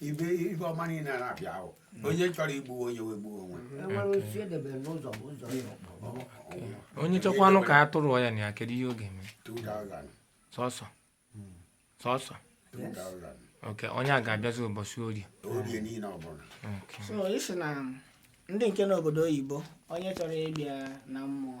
ibe ibe ọma niile a na-abịa ahụ onye chọrọ igbu onye wee gbuo onwe enwere otu edebere n'ụzọ bụ ụzọ ya ọkpọ Ọ- ọ- onye chọkwanụ ka a tụrụ ya na ya kedu ihe ọ ga-eme 2000 sọsọ sọsọ 2000 oke onye a ga-abịazi ụbọchị orie orie niile ọbụla oke so isi na ndị nke nọ obodo oyibo onye chọrọ ịbịa na mmụọ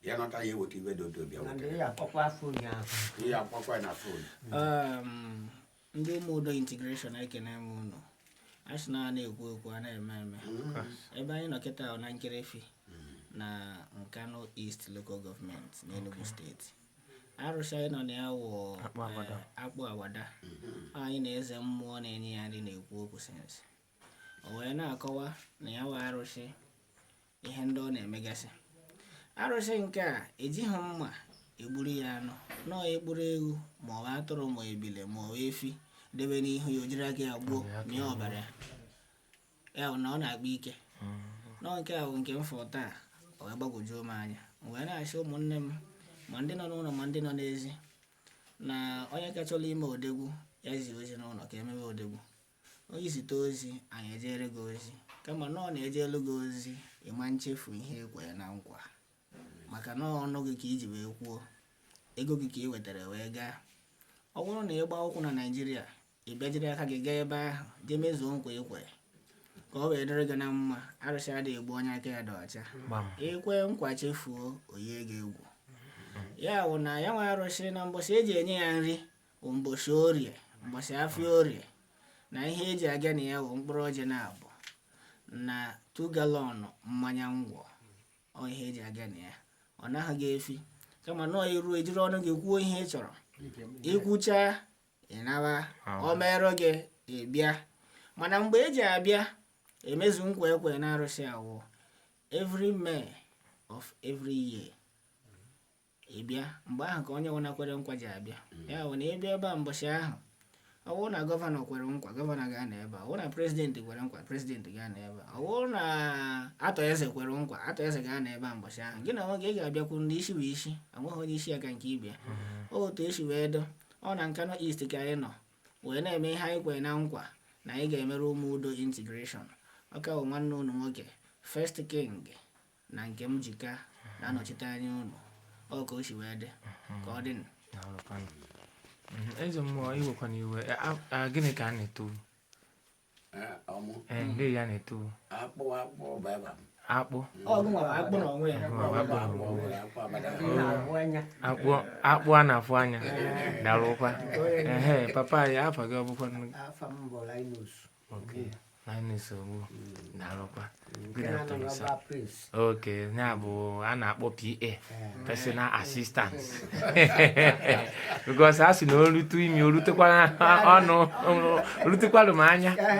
ya nọta ya eweta iwe dị otu obi ya nwoke ya akpọkwa fon ya ahụ ihe akpọkwa na fon Um, ndị ụmụ udo integration ekene m unu a sị na a na-ekwu ekwu a na-eme eme ebe anyị nọ kịtaa wụ na nkerefi na nkanu east local government n'enugu state arụsị anyị nọ na ya wụ eh, akpụ awada anyị na eze mmụọ na-enye ya nri na-ekwu okwu since o wee na-akọwa na ya wụ arụsị ihe ndị ọ na-emegasị arụsị nke a ejighị mma egburu ya anụ nọọ ị kpụrụ ewu ma ọ bụ atụrụ ma ebile ma ọ bụ efi debe n'ihu ya o jiri aka ya gbuo mịa ọbara ya ya bụ na ọ na-akpa ike nọọ nke a bụ nke m fụrụ taa o wee gbagwojuo m anya m wee na-asị ụmụnne m ma ndị nọ n'ụlọ ma ndị nọ n'ezi na onye ka chọrọ ime odegwu ya zie ozi n'ụlọ ka e mebe odegwu Onye zite ozi, anyị ejere gị ozi. Kama na ọ na-ejelu gị ozi, ị ma nchefu ihe ị kwere na nkwa. Maka na ọnụ gị ka i ji wee kwuo, ego gị ka ị wetara wee gaa. Ọ bụrụ na ị gbaa ụkwụ na Naịjirịa, ị bịa jiri aka gị gaa ebe ahụ, jee mezuo nkwa ị kwere. Ka ọ wee dịrị gị na mma, arụsị adịghị egbu onye aka ya dị ọcha. Gbam. I kwe nkwa chefuo, o yie gị egwu. Ya bụ na ya wụ arụsị na mbọsị e ji enye ya nri, bụ mbọsị orie mbọsị afịa orie na ihe e ji aga na ya bụ mkpụrụ ọjị naabụ na two gallon mmanya ngwọ ọ ihe e ji aga na ya ọ naghị gị efi kama na i ru i jiri ọnụ gị kwuo ihe ị chọrọ i kwucha ị naba ọ merụ gị ị bịa mana mgbe e ji abịa emezu nkwa e kwe na arụsị a wụ every may of every year ị bịa mgbe ahụ ka onye ọbụla kwere nkwa ji abịa ya bụ na ị bịa ebe a mbọchị ahụ ọ bụrụ na gọvanọ kwere nkwa gọvanọ ga-anọ ebe a ọ bụrụ na prezidenti kwere nkwa prezidenti ga-anọ ebe a ọ bụrụ na atọ eze kwere nkwa atọ eze ga-anọ ebe a mbọchị ahụ gị na nwoke ị ga-abịakwu ndị isi bụ isi enweghị onye isi ya ka nke ibe ya otu o si wee dị ọ na nkanu east ka anyị nọ wee na-eme ihe anyị kwere na nkwa na anyị ga-emere ụmụ udo integration ọ ka bụ nwanne unu nwoke first king na nke m ji ka na-anọchite anya unu ọ ka o si wee dị ka ọ dị eze mmụọ iwekwana iwe gịnị ka a na-eto ndị ya na-eto akpụ akpụ baba m akpụ akpụ a na-afụ anya darụkwa ehe papa ya afa gị ọ bụkwa Okay. Linus Ogbu darụkwa. Nke Good na-anọ afternoon, n'ọba sir. prince oke ya bụ a na-akpọ PA personal assistant because a sị na o rutu imi o rutekwara ọnụ o rutekwara m anya